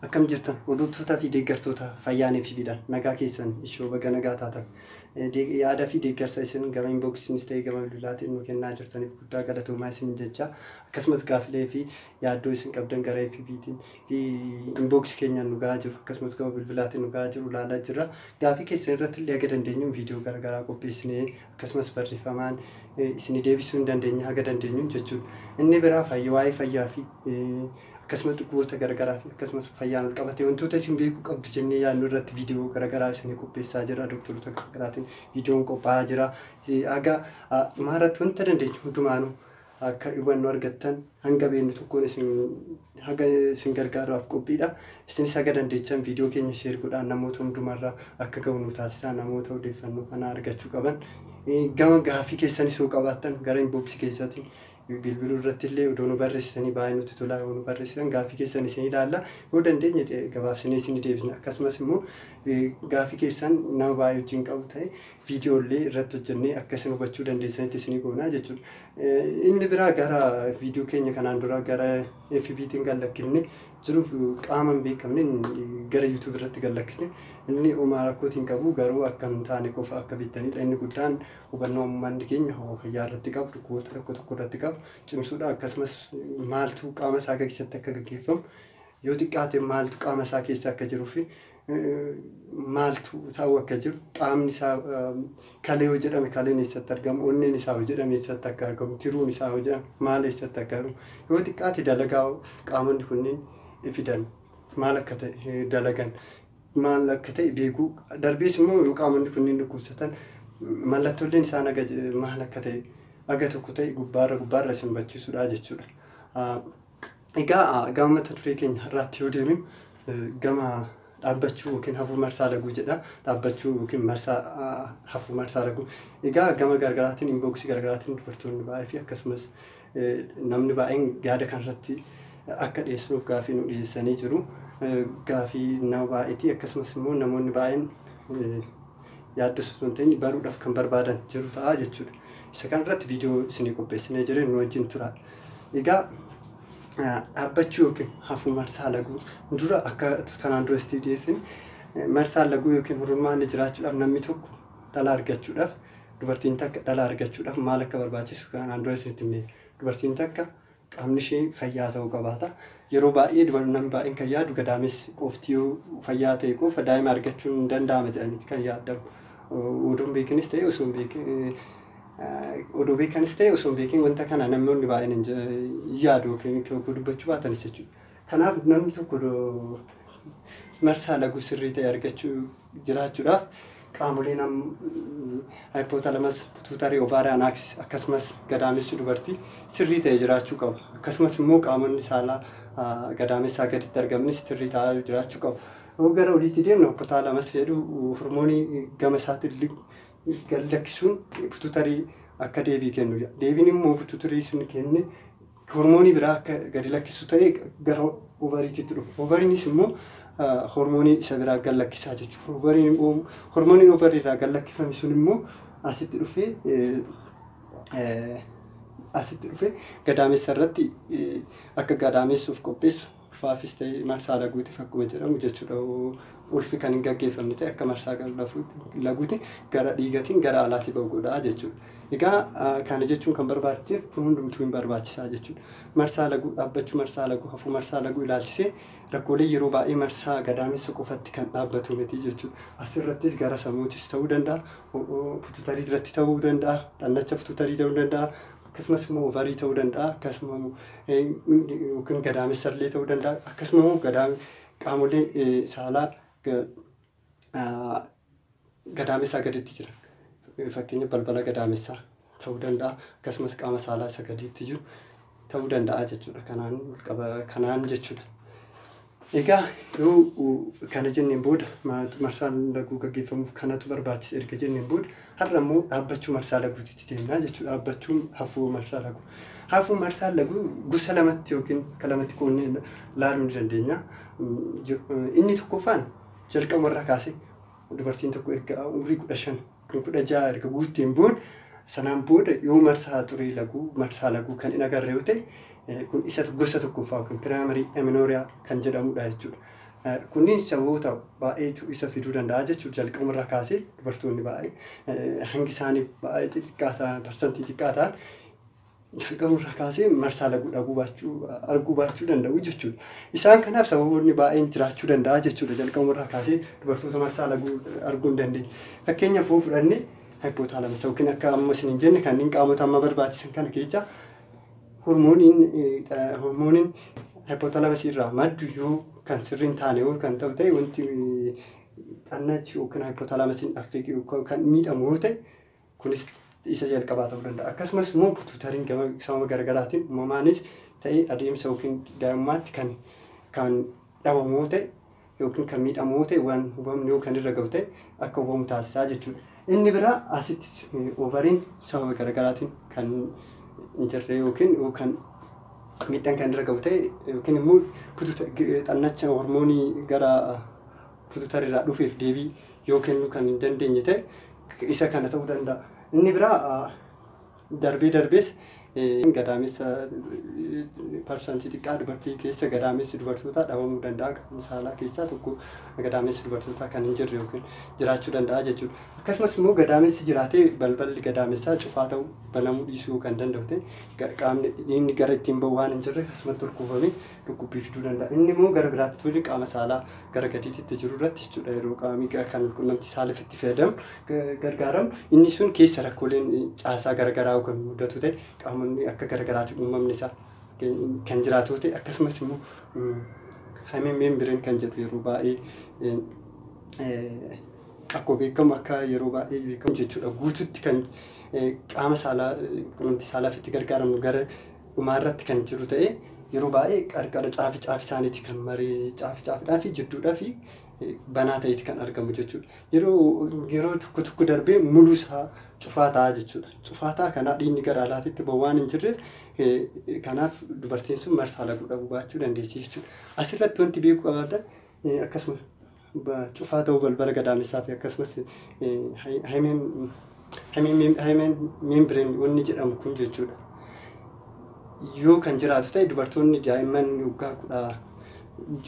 Akkam jirtan hordoftoota fi deeggartoota fayyaan FB'dhaan nagaa keessan ishoo baga nagaa taatan yaada fi deeggarsa isin gama inboksiinis ta'e gama bilbilaatiin nu kennaa jirtaniif guddaa galatoomaa isin jecha akkasumas gaaffilee fi yaaddoo isin qabdan gara FB'tiin Inbox keenyaan nu ga'aa jiru akkasumas gama bilbilaatiin nu ga'aa jiru ilaalaa jirra. Gaafii keessan irratti illee haga dandeenyuun viidiyoo garagaraa qopheessinee akkasumas barreeffamaan isinii deebisuu hin dandeenye haga dandeenyuun jechuudha. Inni biraa fayya waa'ee fayyaa fi akkasumas dhukkuboota garagaraa fi akkasumas fayyaan ol qabatee wantoota isin beekuu qabdu jennee yaadnu irratti viidiyoo garagaraa isinii qopheessaa jira. Dooktaroota garagaraatiin viidiyoon qophaa'aa jira. Haga dhumaa irratti wanta dandeenyu hundumaanuu akka hubannoo argattan hanga beeknu tokkoon isin haga isin gargaarraaf qophiidha. Isinis haga dandeechan viidiyoo keenya sheer godhaa namoota hundumarra akka ga'u nu taasisaa namoota odeeffannoo kana argachuu qaban. Gama gaaffii keessanis yoo qabaattan gara inbox keessaatiin bilbiluu irratti illee odoo nu barreessitanii baay'ee nutti tolaa yoo nu barreessitan gaaffii keessan isin ilaalla yoo dandeenye gabaabsinee isin deebisna akkasumas immoo gaaffii keessan nama baay'ee wajjin qabu ta'e viidiyoo illee irratti hojjennee akka isin hubachuu dandeessanitti isinii goonaa jechuudha. Inni biraa gara viidiyoo keenya kanaan dura gara FBtiin kan lakkifne jiruuf qaama hin beekamne gara YouTube irratti kan lakkisne inni homaa rakkootiin qabu garuu akka hin taane qofa akka beektanidha. Inni guddaan hubannoo uummanni keenya fayyaa irratti qabu dhukkuboota tokko tokko irratti qabu cimsuudha akkasumas maaltu qaama isaa keessatti akka gaggeeffamu Yoo xiqqaate maaltu qaama isaa keessa akka jiruu fi maaltu ta'uu akka jiru qaamni isaa kalee yoo jedhame kaleen eessatti argamu onneen isaa yoo jedhame eessatti akka argamu tiruun isaa yoo jedhame maal eessatti akka argamu yoo xiqqaate dalagaa qaamonni kunniin fidan maal akka ta'e dalagan maal akka ta'e beekuu darbees immoo yoo qaamonni kunniin dhukkubsatan mallattooleen isaa naga maal akka ta'e aga tokko ta'e gubbaarra gubbaarra isin bachiisudha jechuudha. Egaa gama mata duree keenya har'aatti yoo deebinu gama dhaabbachuu yookiin hafuu marsaa laguu jedha. Dhaabbachuu yookiin marsaa hafuu marsaa laguu. Egaa gama gargaraatiin inboksii gargaraatiin dubartoonni baay'ee fi akkasumas namni baay'een yaada kanarratti akka dhiyeessinuuf gaafii nu dhiyeessanii jiru. Gaafii nama baay'eeti akkasumas immoo namoonni baay'een yaaddoo osoo hin ta'in baruudhaaf kan barbaadan jiru ta'a jechuudha. Isa kanarratti viidiyoo isinii qopheessinee jireen nu wajjin tura. Egaa dhaabbachuu yookiin hafuu marsaa laguu dura akka tanaan dura isitiif dhiyeessin marsaan laguu yookiin hururmaanni jiraachuudhaaf namni tokko dhala argachuudhaaf dubartiin takka dhala argachuudhaaf maal akka barbaachisu kanaan dura isinitti himne dubartiin takka qaamni ishee fayyaa ta'uu qabaata. Yeroo baay'ee dubartiin namni baay'een kan yaadu gadaamessi qofti yoo fayyaa ta'e qofa daa'ima argachuun hin danda'ama jedhaniiti kan yaadamu. Oduun beekinis ta'e osoo hin beekin odoo beekanis ta'e osoo hin beekin wanta kana namoonni baay'een hin ja- hin yaadu yookiin itti ogguu dubbachuu baatanis jechuudha. Kanaaf namni tokko odoo marsaa laguu sirrii ta'e argachuu jiraachuudhaaf qaamolee nam hypothalamus pituitary ovarian axis akkasumas gadaamessi dubartii sirrii ta'e jiraachuu qaba. Akkasumas immoo qaamonni saalaa ah, gadaamessaa gaditti argamanis sirrii ta'aa jiraachuu qaba. Yoo gara oliitti deemne hypothalamus jedhu hormoonii gama isaatiin li- gad lakkisuun pitutarii akka deebii kennu jedha. Deebiin immoo pitutarii sun kenne hormoonii biraa akka gadi lakkisu ta'e gara ovariititti dhufa. Ovariinis immoo hormoonii isa biraa gad lakkisaa jechuudha. Hormooniin ovarii irraa gad lakkifame sun immoo asitti dhufee asitti dhufee gadaamessa irratti akka gadaamessuuf qopheessu ulfaafis ta'e marsaa laguutiif akkuma jedhamu jechuudha ulfi kan hin gaggeeffamne ta'e akka marsaa laguuti gara dhiigatiin gara alaati ba'u godhaa jechuudha. Egaa kana jechuun kan barbaachiseef kun hundumtuu hin barbaachisaa jechuudha. Marsaa laguu dhaabbachuu marsaa laguu hafuu marsaa laguu ilaalchisee rakkoolee yeroo baay'ee marsaa gadaamessa qofatti kan dhaabbatu miti jechuudha. Asirrattis gara samuutis ta'uu danda'a, pututarii irratti ta'uu danda'a, xannacha pututarii ta'uu danda'a, akkasumas immoo ovarii ta'uu danda'a akkasuma yookiin gadaamessa illee ta'uu danda'a akkasuma immoo gadaam qaamolee saalaa gadaamessaa gaditti jiran fakkeenya balbala gadaamessaa ta'uu danda'a akkasumas qaama saalaa isa gadiitti jiru ta'uu danda'a jechuudha kanaan kanaan jechuudha. Egaa yoo kana jenneen booda marsaa laguu gaggeeffamuuf kanatu barbaachisa erga jenneen booda har'a immoo dhaabbachuu marsaa laguutitti deemnaa jechuudha. Dhaabbachuun hafuu marsaa laguu. Hafuu marsaa laguu gosa lamatti yookiin akka lamatti qoonnee laaluu ni dandeenya. Inni tokkoffaan jalqabumarraa kaasee Dubartiin tokko erga umrii 15 kan 16 erga guutteen booda sanaan booda yoo marsaa xurii laguu marsaa laguu kan hin agarre yoo ta'e kun isa gosa tokkoffaa yookiin piraamarii eminooria kan jedhamudha jechuudha. Kunniin sababoota baay'eetu isa fiduu danda'a jechuudha. Jalqabuma irraa kaasee dubartoonni baay'ee hangi isaanii baay'ee xixiqqaa ta'an parsantii xiqqaa ta'an jalqabuu irraa kaasee marsaa laguu dhaguu baachuu arguu baachuu danda'u jechuudha. Isaan kanaaf sababoonni baay'een jiraachuu danda'a jechuudha. Jalqabuu irraa kaasee dubartoota marsaa laguu arguu hin dandeenye. Fakkeenyaaf yoo fudhanne hypothalamus yookiin akka amma isin hin jenne kanneen qaamota amma barbaachisan kana keessa hormooniin hormooniin hypothalamus irraa maddu yoo kan sirriin taane yoo kan ta'u ta'e wanti xannachi yookiin hypothalamusin affeeqe kan miidhamu yoo ta'e Kunis isa jalqabaa ta'uu danda'a. Akkasumas immoo tuutariin gama sababa garaagaraatiin uumamaanis ta'ee adeemsa yookiin daa'imummaatti kan kan dhabamu yoo ta'e yookiin kan miidhamu yoo ta'e waan hubamne yoo kan irra gahu ta'e akka hubamu taasisaa jechuudha. Inni biraa asitti oovariin sababa garaagaraatiin kan hin jirre yookiin kan miidhaan kan irra gahu ta'e yookiin immoo xannacha hormoonii gara Pututar irraa dhufeef deebii yoo kennuu kan hin dandeenye ta'e isa kana ta'uu danda'a. Inni biraa darbee darbees gadaamessa parsantii xiqqaa dubartii keessa gadaamessi dubartootaa dhabamuu danda'a. Qaama saalaa keessaa tokko gadaamessi dubartootaa kan hin jirre yookiin jiraachuu danda'a jechuudha. Akkasumas immoo gadaamessi jiraatee balballi gadaamessaa cufaa ta'uu banamuu dhiisuu kan danda'u ta'e qaamni dhiigni gara ittiin bahu waan hin jirre akkasumatti ol kuufamee dhukkubbii fiduu danda'a. Inni immoo gara biraatti ta'uu jechuudha qaama saalaa gara gadiititti jiru irratti jechuudha yeroo qaamni kan qunnamtii saalaaf itti fayyadamu gargaaramu inni sun keessa rakkooleen caasaa garagaraa kan mudatu ta'e qaamonni akka garagaraatti uumamni isaa kan jiraatu ta'e akkasumas immoo hameen meembireen kan jedhu yeroo baay'ee akkoo beekamu akka yeroo baay'ee beekamu jechuudha guututti kan qaama saalaa qunnamtii saalaaf itti gargaaramnu gara dhumaa irratti kan jiru ta'ee yeroo baay'ee qarqara caafi caafi isaaniiti kan maree caafi caafidhaa fi jidduudhaa fi banaa ta'eeti kan argamu jechuudha. Yeroo yeroo tokko tokko darbee muluu isaa cufaa ta'a jechuudha. Cufaa ta'a kanaa dhiigni gara alaatitti ba'u waan hin jirreef kanaaf dubartiin sun marsaa laguu dhabuu baachuu dandeessi jechuudha. Asirratti wanti beekuu qabaatan akkasuma cufaa ta'uu balbala gadaamessaa fi akkasumas haymeen membrane wanni jedhamu kun jechuudha. Yoo kan jiraatu ta'e dubartoonni daa'imman waggaa kudha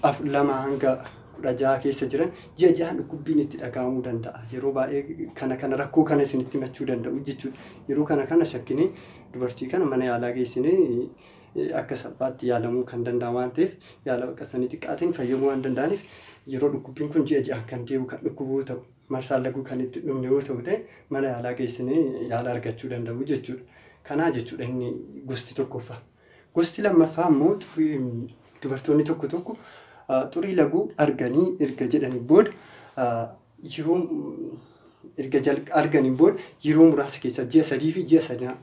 afur lama hanga kudha jaha keessa jiran ji'a ji'aan dhukkubbiin itti dhaga'amuu danda'a. Yeroo baay'ee kana kana rakkoo kana isinitti himachuu danda'u jechuudha. Yeroo kana kana shakkinee dubartii kana mana yaalaa geessinee akka salphaatti yaalamuu kan danda'an waan ta'eef yaala baqaqsanii xiqqaatiin fayyamuu waan danda'aniif yeroo dhukkubbiin kun ji'a ji'aan kan deebi'u kan dhukkubuu ta'u marsaan laguu kan itti dhumne yoo ta'u ta'e mana yaalaa geessinee yaala argachuu danda'u jechuudha. Kanaa jechuudha inni gosti tokkoffaa. Gosti lammaffaa immoo dubartoonni tokko tokko xurii laguu arganii erga jedhanii booda yeroo erga arganiin booda yeroo muraasa keessa ji'a sadii fi ji'a sanaa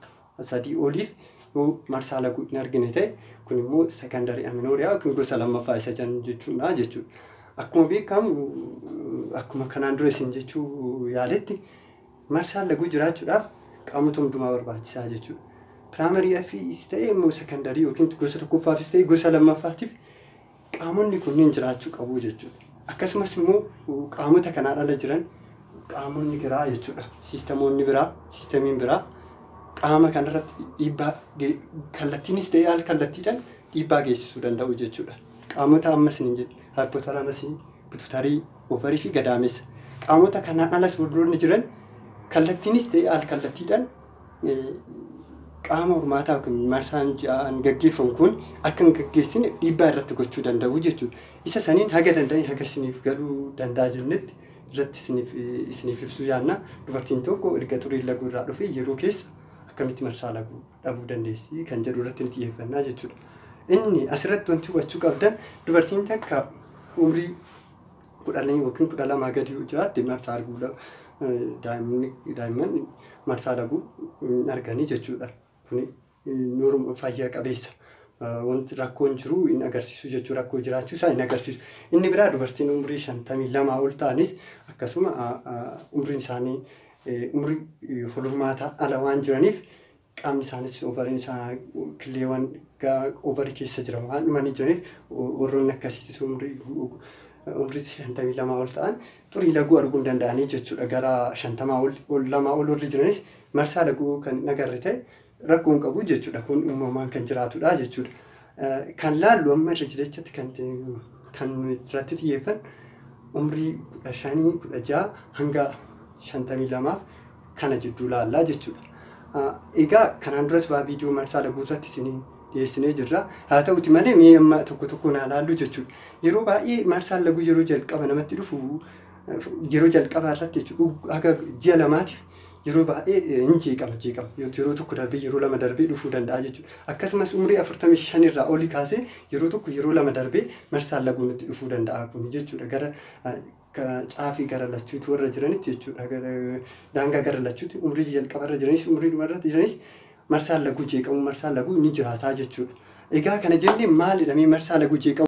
sadii oliif yoo marsaa laguu hin argine ta'e kun immoo secondary amenorrhea yookiin gosa lammaffaa isa jennu jechuudha jechuudha. Akkuma beekamu akkuma kanaan dura isin jechuu yaaletti marsaan laguu jiraachuudhaaf qaamota hundumaa barbaachisaa jechuudha. Primary FEs ta'e immoo secondary yookiin gosa tokkoffaafis ta'e gosa lammaffaatiif Qaamonni kunniin jiraachuu qabu jechuudha. Akkasumas immoo qaamota kanaan ala jiran qaamonni biraa jechuudha. Siistamoonni biraa, siistamiin biraa qaama kanarratti dhiibbaa kallattiinis ta'ee al kallattiidhaan dhiibbaa geessisuu danda'u jechuudha. Qaamota ammas ni jedhe haayipotalamasii, bitutarii, ovarii fi gadaamessa. Qaamota kanaan alas warroonni jiran kallattiinis ta'ee al kallattiidhaan qaama hormaataa yookiin marsaan ji'aan gaggeeffamu kun akka hin gaggeessine dhiibbaa irratti gochuu danda'u jechuudha. Isa saniin haga danda'e haga isiniif galuu danda'a jennetti irratti isiniif isiniif ibsuu yaanna. Dubartiin tokko erga xuriin laguu irraa dhufee yeroo keessa akkamitti marsaa laguu dhabuu dandeessi kan jedhu irratti ni xiyyeeffannaa jechuudha. Inni asirratti wanti hubachuu qabdan dubartiin takka umrii kudhanii yookiin kudha lamaa gadi yoo jiraatte marsaa arguu dha- eh, daa'imni- daa'imman marsaa laguu hin arganii jechuudha. Kuni eh, norm- fayya qabeessa. Eh, Wanti rakkoon jiru hin agarsiisu jechuu rakkoo jiraachuu isaa hin agarsiisu. Inni biraa dubartiin umrii shantamii lamaa ol ta'anis akkasuma ah, ah, umriin isaanii eh, umrii eh, hormaataa ala waan jiraniif qaamni isaanis ovariin isaa killeewwan ovarii keessa jiran waan dhumanii jiraniif warroonni akkasiitis umrii umrii shantamii lamaa ol ta'an xurii laguu arguu hin danda'anii jechuudha gara shantamaa ol lamaa ol warri jiranis marsaa laguu kan hin agarre ta'e rakkoo hin qabu jechuudha kun uumamaan kan jiraatudha jechuudha. Kan laallu amma irra jirechatti kan kan irratti xiyyeeffan umrii kudha shanii kudha ja'a hanga shantamii lamaaf kana jidduu laallaa jechuudha. Egaa kanaan duras baa viidiyoo marsaa laguu irratti isin dhiyeessinee jirra. Haa ta'uti malee mee amma tokko tokko naa laallu jechuudha. Yeroo baay'ee marsaan laguu yeroo jalqaba namatti dhufu yeroo jalqabaa irratti jechuudha haga ji'a lamaatiif Yeroo baay'ee hin jeeqama jeeqama yeroo tokko darbee yeroo lama darbee dhufuu danda'a jechuudha. Akkasumas umrii 45 irraa oli kaasee yeroo tokko yeroo lama darbee marsaan laguu nutti dhufuu danda'a kun jechuudha. Gara caafii gara lachuuti warra jiranitti jechuudha. Daangaa gara lachuuti umrii jalqaba irra jiranis umrii dhuma irratti jiranis marsaan laguu jeeqamuu marsaan laguu ni jiraataa jechuudha. Egaa kana jennee maalidha mee marsaa laguu jeeqamuu?